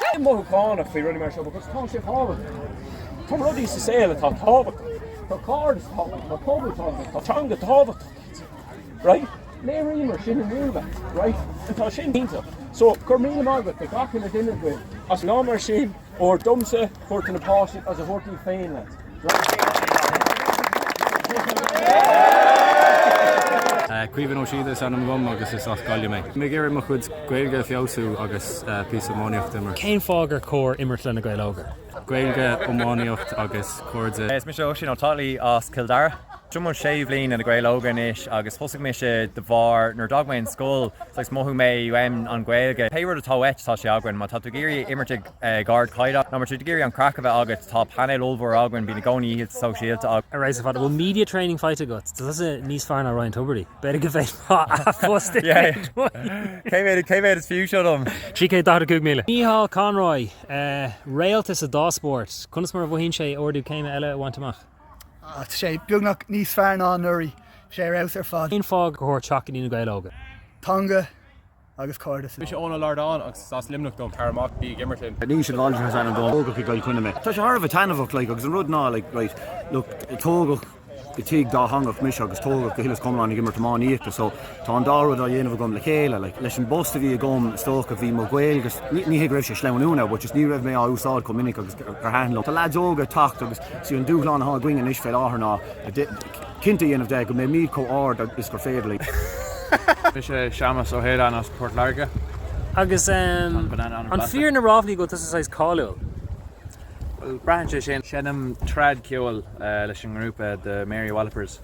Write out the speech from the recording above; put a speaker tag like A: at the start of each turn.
A: Bím mothúchánach faoi rudaí mar seo because tá sé tábhachtach. Tá rudaí sa saol atá tábhachtach. Tá cairdeas tábhachtach, tá pobal tábhachtach, tá teanga tábhachtach lads. Right? Léiríomar sin inniu lads. Right? Tá sin iontach. So go raibh míle maith agat do gach uile duine agaibh as lá mar sin. A thabhairt domsa, a thabhairt do na páistí is a thabhairt díbh féin
B: lads. Caoimhín Ó Síoda is ainm dhom agus is as Gaillimh mé. Mé ag iarraidh mo chuid Gaeilge a feabhsú agus píosa iománaíocht imirt. Cén fáth gur
C: cóir imirt le Na Gaeil Óga? Gaeilge,
B: iománaíocht agus cairde. Is mise Oisín Ó Dálaigh
D: as Cill Dara. Seo mo shéú bliain le Na Gaeil Óga anois agus thosaigh mise de bharr nuair a d'fhág mé an scoil saghas mhothaigh mé uaim an Ghaeilge. Pé rud atá uait tá sé againn. Má tá tú ag iarraidh imirt ag ag ardchaighdeán nó má tú ag iarraidh an craic a bheith agat tá painéal ollmhór againn, bíonn i gcónaí oícheanta sóisialta againn. Ar fheabhas ar fad, an bhfuil
C: media training faighte agat? Tá tusa níos fearr ná Ryan Tubridy. B'fhéidir go bhféadfá a phost a
D: dhéanamh. Cé mhéad is fiú seo dom? 345,000.
C: Micheál Conroy, réalta sa dá spórt, conas mar a mhothaíonn sé ardú céime eile a bhaint amach? Tá
E: sé beagnach níos fearr ná anuraidh, sé ar fheabhas ar fad. Cén fáth gur chóir
C: teacht go dtí Na Gaeil Óga? Teanga
E: agus cairdeas. Mise Eoin Ó Lordáin agus
F: is as Luimneach dom. Tar amach, bí ag imirt linn! Naoise de Bhaldraithe is
B: ainm dom. Tógadh i gCill Chainnigh mé. Tá sé thar a bheith taitneamhach like agus an rud ná like right look tógadh i tigh dátheangach mise agus tógadh go huile is go hiomlán ag imirt iománaíochta so, Tá an dá rud á dhéanamh agam le chéile. Like, leis an bpost a bhí agam, is dócha, bhí mo Ghaeilge, ní hé go raibh sé ag sleamhnú now, but just ní raibh mé á úsáid chomh minic agus gur thaitin liom. Tá lads óga ag teacht agus sé an dúshlán atá againn anois fé láthair ná cinnte a dhéanamh de go mbeimíd chomh ard is gur féidir
F: linn. Mise Séamas Ó hAoláin as Port Láirge.
C: Agus an fíor na ráflaí go bhfuil tusa saghas cáiliúil? Bhuel,
F: braitheann sé sin. Seinnim trad ceoil leis an ngrúpa The Mary Wallopers.